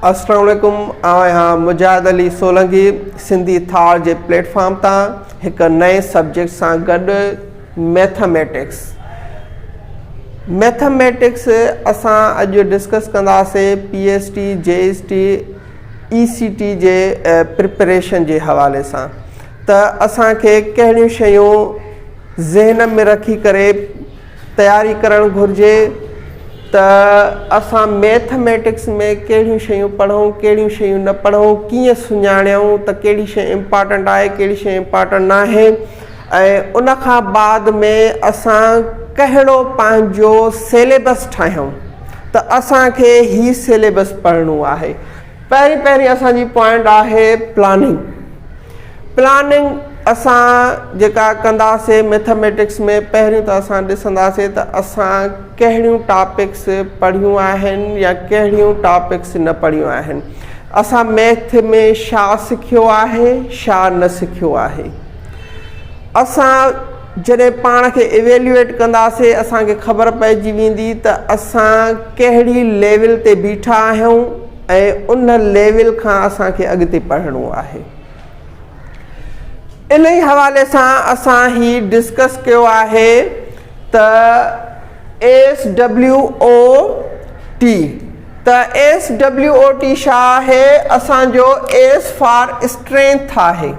السلام عليڪم آئون آهيان مجاهد علي سولنگي سنڌي ٿار جي پليٽ فارم تان هڪ نئين سبجيڪٽ سان گڏ ميٿميٽڪس ميٿميٽڪس اسان اڄ ڊسڪس ڪنداسي P S T J S T E C T جي پريپريشن جي حوالي سان ته اسان کي ڪهڙيون شيون ذهن ۾ رکي ڪري تياري ڪرڻ گهرجي ته اسان ميٿ ميٽڪس ۾ ڪهڙيون شيون پڙهون ڪهڙيون شيون نه پڙهون ڪيئن سڃاڻيون ته ڪهڙي شي امپارٽنٽ آهي ڪهڙي شي امپارٽنٽ ناهي ۽ ان کان بعد ۾ اسان ڪهڙو پنهنجو سيليبس ٺاهيون ته اسان کي هي سيليبس پڙهڻو آهي پهرين پهرين اسان جي پوائنٽ آهي پلاننگ پلاننگ اسان جيڪا ڪنداسي ميٿميٽڪس ۾ پهرين ته اسان ڏسنداسي ته اسان ڪهڙيون ٽاپڪس پڙهيون آهن يا ڪهڙيون ٽاپڪس نه پڙهيون آهن اسان ميٿ ۾ شا سکيو آهي شا نه سکيو آهي اسان جڏهن پاڻ کي ايويليوئيٽ ڪنداسين اسان کي خبر پئجي ويندي ته اسان ڪهڙي ليول تي بيٺا آهيون ۽ ان ليول کان اسان کي اڳتي پڙهڻو آهي. انهي حوالي سان اسان هي ڊسڪس ڪيو آهي ته ايس ڊبليو او ٽي ته ايس ڊبليو او ٽي شا آهي اسان جو ايس فار اسٽرينٿ آهي.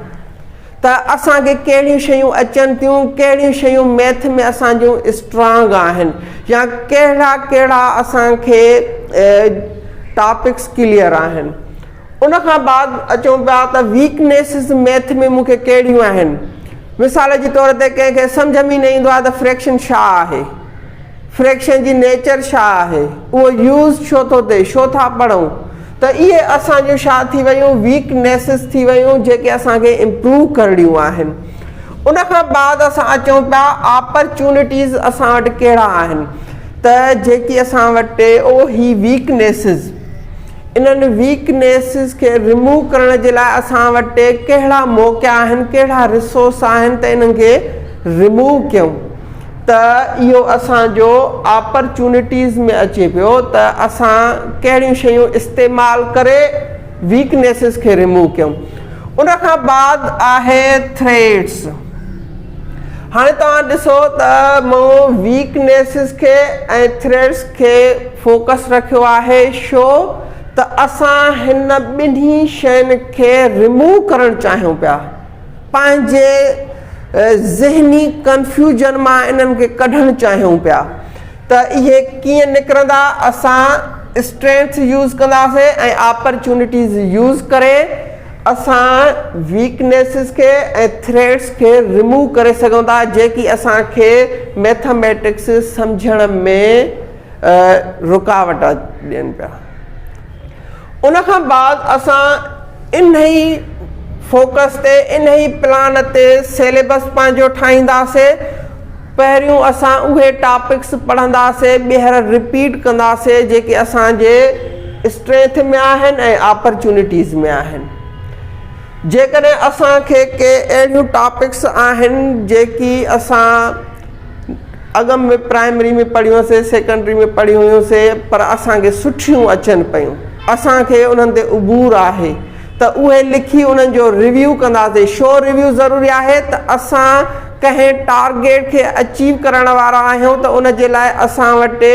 ته اسان کي ڪهڙيون شيون اچن ٿيون، ڪهڙيون شيون ميٿ ۾ اسان جون اسٽرانگ آهن يا ڪهڙا ڪهڙا اسان کي ٽاپڪس ڪليئر آهن. ان کان بعد اچون پيا ته ويڪنيسز ميٿ ۾ مون کي ڪهڙيون آهن. مثال جي طور تي ڪنهن کي سمجهه ۾ ئي نه ايندو آهي ته فريڪشن ڇا آهي. فريڪشن جي نيچر ڇا آهي. اهو يوز ڇو ٿو ٿئي، ڇو ٿا پڙهون. ته اهي اسان جون ڇا ٿي ويون ويڪ نيسز ٿي ويون جيڪي اسان کي امپروو ڪرڻيون آهن ان کان بعد اسان اچون پيا آپرچونٽيز اسان وٽ ڪهڙا آهن ته جيڪي اسان وٽ او هي ويڪ نيسز انهن ويڪ نيسز کي رموو ڪرڻ جي لاء اسان وٽ ڪهڙا موقعا آهن ڪهڙا رسورس آهن ته انهن کي رموو ڪيون ته اهو اسان جو آپرچونٽيز ۾ اچي پيو ته اسان ڪهڙيون شيون استعمال ڪري ويڪنيسز کي ريموو ڪيون ان کان بعد آهي ٿريٽس هاڻي توهان ڏسو ته مون ويڪنيسز کي ۽ ٿريٽس کي فوڪس رکيو آهي شو ته اسان هن ٻنهي شين کي ريموو ڪرڻ چاهيون پيا پنهنجي ذهني ڪنفيوزن مان انهن کي ڪڍڻ چاهيون پيا ته اهي ڪيئن نڪرندا اسان اسٽرينٿ يوز ڪنداسين ۽ آپرچونٽيز يوز ڪري اسان ويڪنيسز کي ۽ ٿريٽس کي رموو ڪري سگهون ٿا جيڪي اسان کي ميٿاميٽڪس سمجهڻ ۾ رڪاوٽ ڏين پيا. ان کان بعد اسان انهي فوڪس تي انهي پلان تي سيليبس پنهنجو ٺاهينداسي پهريون اسان اهي ٽاپڪس پڙهنداسي ٻيهر رپيٽ ڪنداسي جيڪي اسان جي اسٽرينٿ ۾ آهن ۽ آپرچونٽيز ۾ آهن جيڪڏهن اسان کي ڪي اهڙيون ٽاپڪس آهن جيڪي اسان اڳ ۾ پرائمري ۾ پڙهيون سي سيڪنڊري ۾ پڙهيون هيون سي پر اسان کي سٺيون اچن پيون اسان کي انهن تي عبور آهي ته اهي لکي انهن جو ريويو ڪنداسي شو ريويو ضروري آهي ته اسان ڪنهن ٽارگيٽ کي اچيو ڪرڻ وارا آهيون ته ان جي لاء اسان وٽ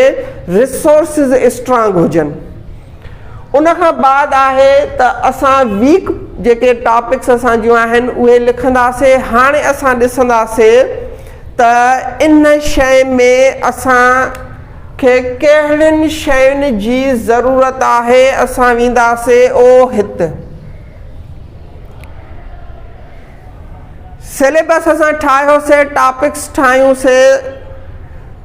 ريسورسز اسٽرانگ هجن ان کان بعد آهي ته اسان ويڪ جيڪي ٽاپڪس اسان جون آهن اهي لکنداسي هاڻي اسان ڏسنداسي ته ان شيء ۾ اسان کي ڪهڙين شين جي ضرورت آهي، اسان وينداسي او هت. سليبس اسان ٺاهيوسي، ٽاپڪس ٺاهيونسي،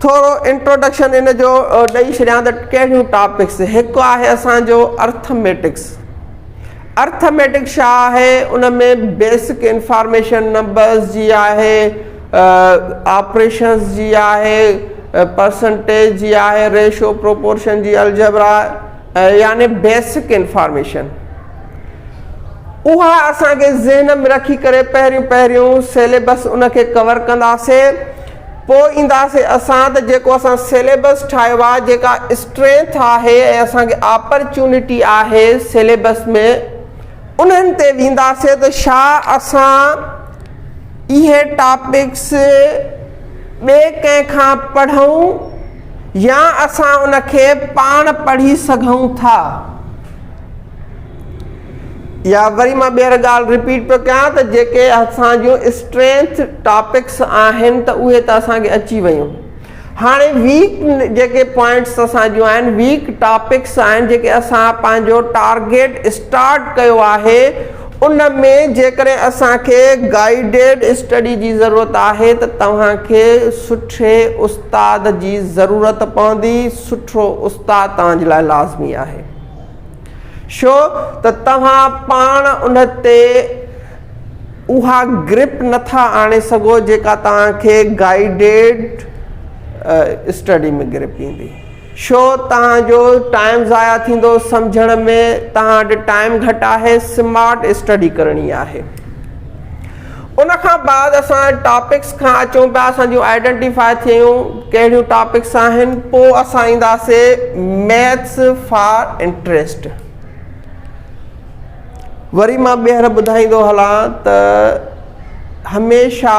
ٿورو انٽروڊڪشن ان جو ڏئي ڇڏيان ته ڪهڙيون ٽاپڪس، هڪ آهي اسان جو ارٿميٽڪس. ارٿميٽڪ ڇا آهي ان ۾ بيسڪ انفارميشن نمبرز جي آهي آپريشنز جي آهي پرسنٽيج جي آهي ريشو پروپورشن جي الجبرا يعني بيسڪ انفارميشن اها اسان کي ذهن ۾ رکي ڪري پهريون پهريون سيليبس ان کي ڪور ڪنداسي پوء اينداسي اسان ته جيڪو اسان سيليبس ٺاهيو آهي جيڪا اسٽرينٿ آهي ۽ اسان کي آپرچونٽي آهي سيليبس ۾ انهن تي وينداسي ته ڇا اسان اهي ٽاپڪس ٻئي ڪنهن کان پڙهون يا اسان ان کي پاڻ پڙهي سگهون ٿا. يا وري مان ٻيهر ڳالهه رپيٽ پيو ڪيان ته جيڪي اسان جون اسٽرينٿ ٽاپڪس آهن ته اهي ته اسان کي اچي ويون هاڻي ويڪ جيڪي پوائنٽس اسان جون آهن ويڪ ٽاپڪس آهن جيڪي اسان پنهنجو ٽارگيٽ اسٽارٽ ڪيو آهي ان ۾ جيڪڏهن اسان کي گائيڊيڊ اسٽڊي جي ضرورت آهي ته توهان کي سٺي استاد جي ضرورت پوندي سٺو استاد توهان جي لاء لازمي آهي ڇو ته توهان پاڻ ان تي اها گرپ نٿا آڻي سگهو جيڪا توهان کي گائيڊيڊ اسٽڊي ۾ گرپ ايندي. ڇو توهان جو ٽائيم ضايع ٿيندو سمجهڻ ۾ توهان وٽ ٽائيم گهٽ آهي سمارٽ اسٽڊي ڪرڻي آهي. ان کان بعد اسان ٽاپڪس کان اچون پيا اسان جون آئيڊنٽيفاء ٿيون ڪهڙيون ٽاپڪس آهن پوء اسان اينداسي ميٿس فار انٽريسٽ وري مان ٻيهر ٻڌائيندو هلان ته هميشه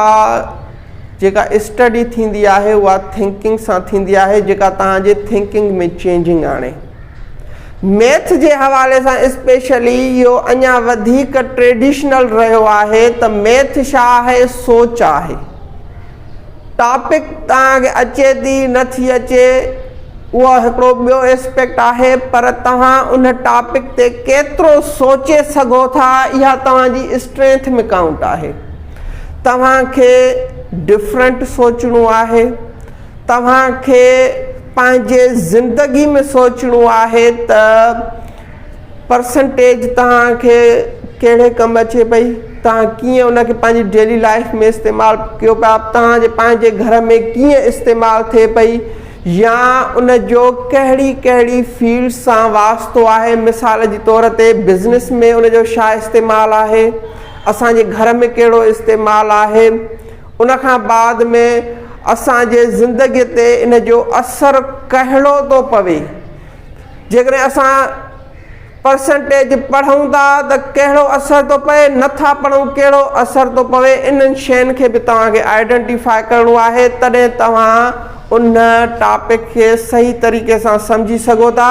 جيڪا اسٽڊي ٿيندي آهي اها ٿنڪنگ سان ٿيندي آهي جيڪا تهان جي ٿنڪنگ ۾ چينجنگ آڻي ميٿ جي حوالي سان اسپيشلي اهو اڃا وڌيڪ ٽريڊيشنل رهيو آهي ته ميٿ ڇا آهي سوچ آهي ٽاپڪ توهان کي اچي ٿي نه ٿي اچي اهو هڪڙو ٻيو اسپيڪٽ آهي پر توهان ان ٽاپڪ تي ڪيترو سوچي سگهو ٿا اها توهان جي اسٽرينٿ ۾ ڪائونٽ آهي توهان کي ڊفرنٽ سوچڻو آهي توهان کي پنهنجي زندگي ۾ سوچڻو آهي ته پرسنٽيج توهان کي ڪهڙي ڪم اچي پئي توهان ڪيئن ان کي پنهنجي ڊيلي لائف ۾ استعمال ڪيو پيا توهان جي پنهنجي گهر ۾ ڪيئن استعمال ٿئي پئي يا ان جو ڪهڙي ڪهڙي فيلڊ سان واسطو آهي مثال جي طور تي بزنس ۾ ان جو ڇا استعمال آهي اسان جي گهر ۾ ڪهڙو استعمال آهي ان کان بعد ۾ اسان جي زندگي تي ان جو اثر ڪهڙو ٿو پوي جيڪڏهن اسان پرسنٽيج پڙهون ٿا ته ڪهڙو اثر ٿو پئي نٿا پڙهون ڪهڙو اثر ٿو پوي انهن شين کي به توهان کي آئيڊنٽيفاء ڪرڻو آهي تڏهن توهان ان ٽاپڪ کي صحيح طريقي سان سمجهي سگهو ٿا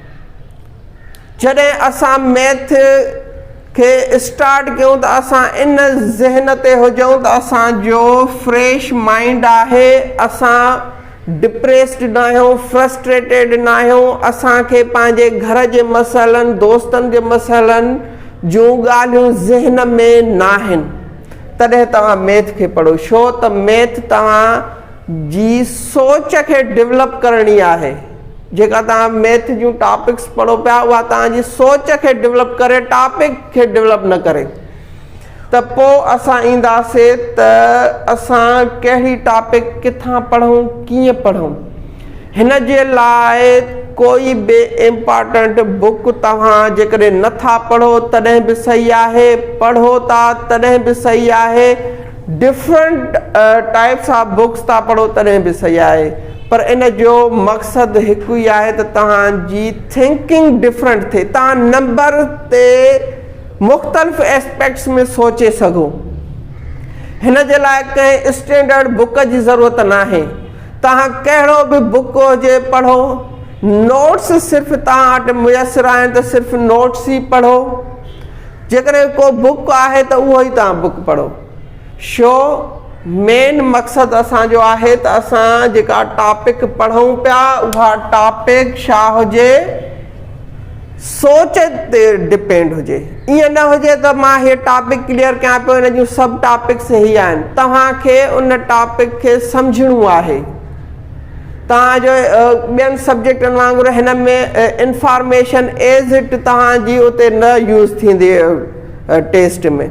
جڏهن اسان ميٿ کي اسٽارٽ ڪيون ته اسان ان ذهن تي هجون ته اسان جو فريش مائنڊ آهي اسان ڊپريسڊ ناهيون فرسٽريٽيڊ ناهيون اسان کي پنهنجي گهر جي مسئلن دوستن جي مسئلن جون ڳالهيون ذهن ۾ ناهن تڏهن توهان ميٿ کي پڙهو شو ته ميٿ توهان جي سوچ کي ڊولپ ڪرڻي آهي جيڪا توهان ميٿ جون ٽاپڪس پڙهو پيا اها توهان جي سوچ کي ڊولپ ڪري ٽاپڪ کي ڊولپ نه ڪري ته پو اسان اينداسي ته اسان ڪهڙي ٽاپڪ ڪٿان پڙهون ڪيئن پڙهون هن جي لاء ڪوئي به امپارٽنٽ بوڪ توهان جيڪڏهن نه ٿا پڙهو تڏهن به صحيح آهي پڙهو ٿا تڏهن به صحيح آهي ڊفرنٽ ٽائپس آف بڪس ٿا پڙهو تڏهن به صحيح آهي پر ان جو مقصد هڪ ئي آهي ته توهان جي ٿنڪنگ ڊفرنٽ ٿئي توهان نمبر تي مختلف اسپيڪٽس ۾ سوچي سگهو هن جي لاء ڪنهن اسٽينڊرڊ بڪ جي ضرورت ناهي توهان ڪهڙو به بڪ هجي پڙهو نوٽس صرف توهان وٽ ميسر آهن ته صرف نوٽس ئي پڙهو جيڪڏهن ڪو بوڪ آهي ته اهو ئي توهان بوڪ پڙهو شو مين مقصد اسان جو آهي ته اسان جيڪا ٽاپڪ پڙهون پيا اها ٽاپڪ شا هجي سوچ تي ڊپينڊ هجي ائين نه هجي ته مان هي ٽاپڪ ڪليئر ڪيان پيو هن جون سڀ ٽاپڪس هي آهن توهان کي ان ٽاپڪ کي سمجهڻو آهي توهان جو ٻين سبجيڪٽن وانگر هن ۾ انفارميشن ايز اٽ توهان جي اتي نه يوز ٿيندي ٽيسٽ ۾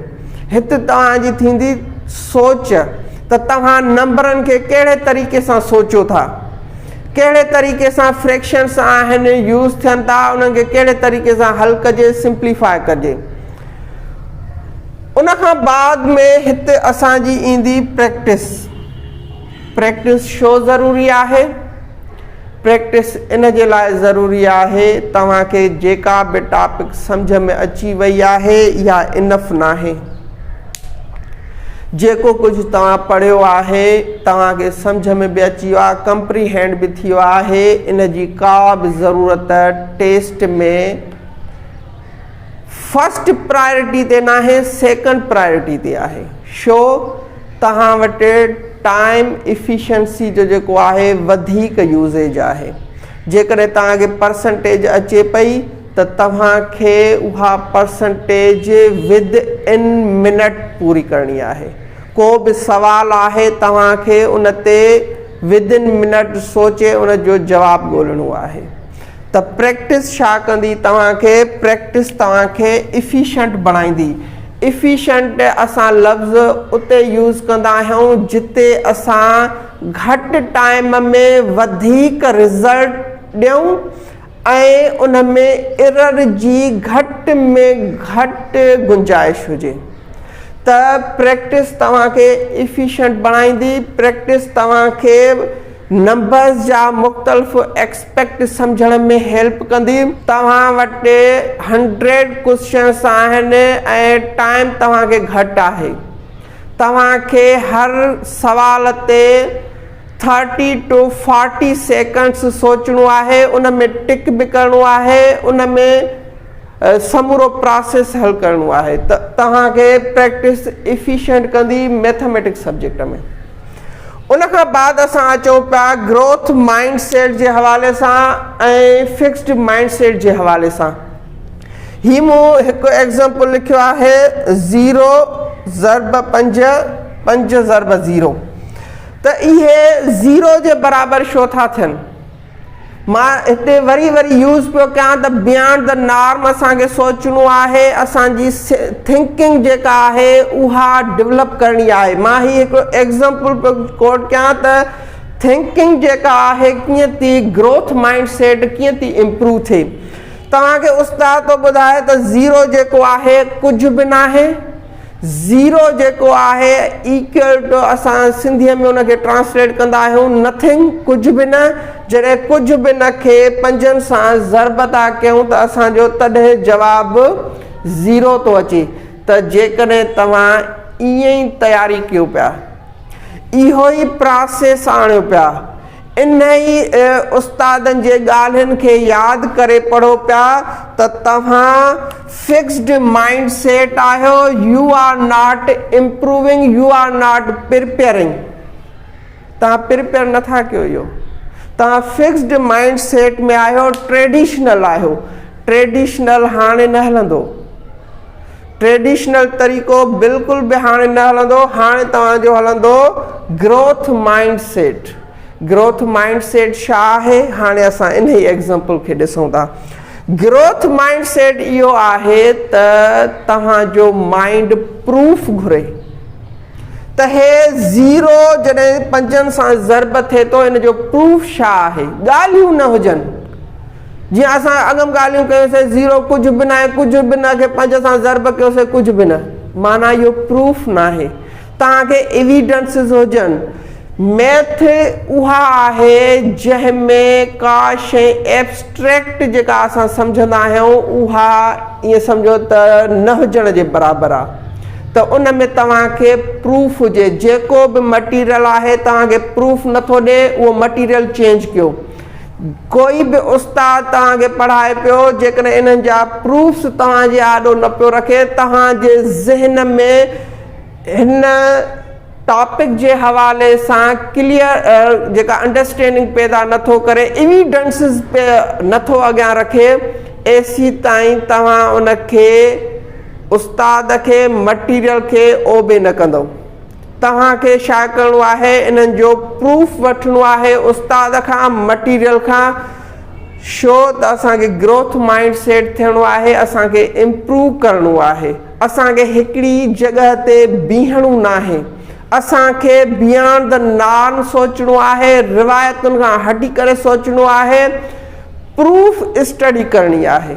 هت توهان جي ٿيندي سوچ ته توهان نمبرن کي ڪهڙي طريقي سان سوچو ٿا ڪهڙي طريقي سان فريڪشنس آهن يوز ٿين ٿا انهن کي ڪهڙي طريقي سان حل ڪجي سمپليفاء ڪجي ان کان بعد ۾ هت اسان جي ايندي پريڪٽس پريڪٽس شو ضروري آهي؟ پريڪٽس ان جي لاء ضروري آهي توهان کي جيڪا به ٽاپڪ سمجهه ۾ اچي وئي آهي اها انف ناهي. جيڪو ڪجهه توهان پڙهيو آهي توهان کي سمجهه ۾ به اچي ويو آهي ڪمپري هينڊ به ٿي ويو آهي ان جي ڪا به ضرورت ٽيسٽ ۾ فرسٽ پرائرٽي تي ناهي سيڪنڊ پرائرٽي تي آهي شو توهان وٽ ٽائيم افيشنسي جو جيڪو آهي وڌيڪ يوزيج آهي جيڪڏهن توهان کي پرسنٽيج اچي پئي ته توهان کي اها پرسنٽيج ود ان منٽ پوري ڪرڻي آهي ڪو به سوال آهي توهان کي ان تي ود ان منٽ سوچي ان جو جواب ڳولڻو آهي ته پريڪٽس ڇا ڪندي توهان کي؟ پريڪٽس توهان کي افيشنٽ بڻائيندي. افيشنٽ اسان لفظ اتي يوز ڪندا آهيون جتي اسان گهٽ ٽائيم ۾ وڌيڪ رزلٽ ڏيون ۽ ان ۾ ايرر جي گهٽ ۾ گهٽ گنجائش هجي. ته پريڪٽس توهان کي افيشنٽ بڻائيندي. پريڪٽس توهان کي نمبرز جا مختلف ايڪسپريشن. پيڪٽ سمجهڻ ۾ هيلپ ڪندي. توهان وٽ هنڊريڊ ڪوشچنس آهن ۽ ٽائيم توهان کي گهٽ آهي. توهان کي هر سوال تي ٿرٽي ٽو فارٽي سيڪنڊس سوچڻو آهي ان ۾ ٽڪ به ڪرڻو آهي ان ۾ سمورو پراسيس حل ڪرڻو آهي ته توهان کي پريڪٽس افيشنٽ ڪندي ميٿاميٽڪس سبجيڪٽ ۾ ان کان بعد اسان اچون پيا گروٿ مائنڊ سيٽ جي حوالي سان ۽ فڪسڊ مائنڊ سيٽ جي حوالي سان هي مون هڪ ايگزامپل لکيو آهي زيرو ضرب پنج پنج ضرب زيرو ته اهي زيرو جي برابر شو ٿا ٿين مان هتي وري وري يوز پيو ڪيان ته بيانڊ دي نارم اسان کي سوچڻو آهي اسان جي ٿنڪنگ جيڪا آهي اها ڊولپ ڪرڻي آهي مان هي هڪڙو ايگزمپل پيو ڪوٽ ڪيان ته ٿنڪنگ جيڪا آهي ڪيئن ٿي گروٿ مائنڊ سيٽ ڪيئن ٿي امپروو ٿئي توهان کي استاد ٿو ٻڌائي ته زيرو جيڪو آهي ڪجهه به ناهي زيرو جيڪو آهي ايڪول ٽو اسان سنڌيء ۾ ان کي ٽرانسليٽ ڪندا آهيون Nothing ڪجهه به نه جڏهن ڪجهه به نه کي پنجن سان ضرب ٿا ڪيون ته اسان جو تڏهن جواب زيرو ٿو اچي ته جيڪڏهن توهان ائين ئي تياري ڪيو پيا اهو ئي پراسيس آڻيو پيا انهي استادن جي ڳالهين کي ياد ڪري پڙهو پيا ته توهان فڪسڊ مائنڊ سيٽ آهيو you are not improving you are not preparing توهان پرپيئر نٿا ڪيو اهو توهان فڪسڊ مائنڊ سيٽ ۾ آهيو ٽريڊيشنل آهيو ٽريڊيشنل هاڻي نه هلندو ٽريڊيشنل طريقو بلڪل به هاڻي نه هلندو هاڻي توهان جو هلندو growth mindset growth mindset ڇا آهي هاڻي اسان انهي ايگزامپل کي ڏسون ٿا گروٿ مائنڊ سيٽ اهو آهي ته توهان جو مائنڊ پروف گهري ته هي زيرو جڏهن پنجن سان ضرب ٿئي ٿو ان جو پروف ڇا آهي ڳالهيون نه هجن جيئن اسان اڳم ڳالهيون ڪيون سي زيرو ڪجهه به ناهي ڪجهه به نه کي پنج سان ضرب ڪيو سي ڪجهه به نه معنيٰ اهو پروف ناهي توهان کي ايويڊنسز هجن ميٿ اها آهي جنهن ۾ ڪا شئي ايبسٽريڪٽ جيڪا اسان سمجهندا آهيون اها ائين سمجهو ته نه هجڻ جي برابر آهي ته ان ۾ توهان کي پروف هجي جيڪو به مٽيريل آهي توهان کي پروف نٿو ڏي اهو مٽيريل چينج ڪيو ڪوئي به استاد توهان کي پڙهائي پيو جيڪڏهن انهن جا پروفس توهان جي آڏو نه پيو رکي توهان جي ذهن ۾ هن ٽاپڪ جي حوالي سان ڪليئر جيڪا انڊرسٽينڊنگ پيدا نه ٿو ڪري ايويڊنسز نه ٿو اڳيان رکي ايسي تائين توهان ان کي استاد کي مٽيريل کي اوبي نه ڪندو توهان کي ڇا ڪرڻو آهي انهن جو پروف وٺڻو آهي استاد کان مٽيريل کان شو ته اسان کي گروٿ مائنڊ سيٽ ٿيڻو آهي اسان کي امپروو ڪرڻو آهي اسان کي هڪڙي جڳهه تي بيهڻو ناهي اسان کي بيانڊ د نارم سوچڻو آهي روايتن کان هٽي ڪري سوچڻو آهي پروف اسٽڊي ڪرڻي آهي.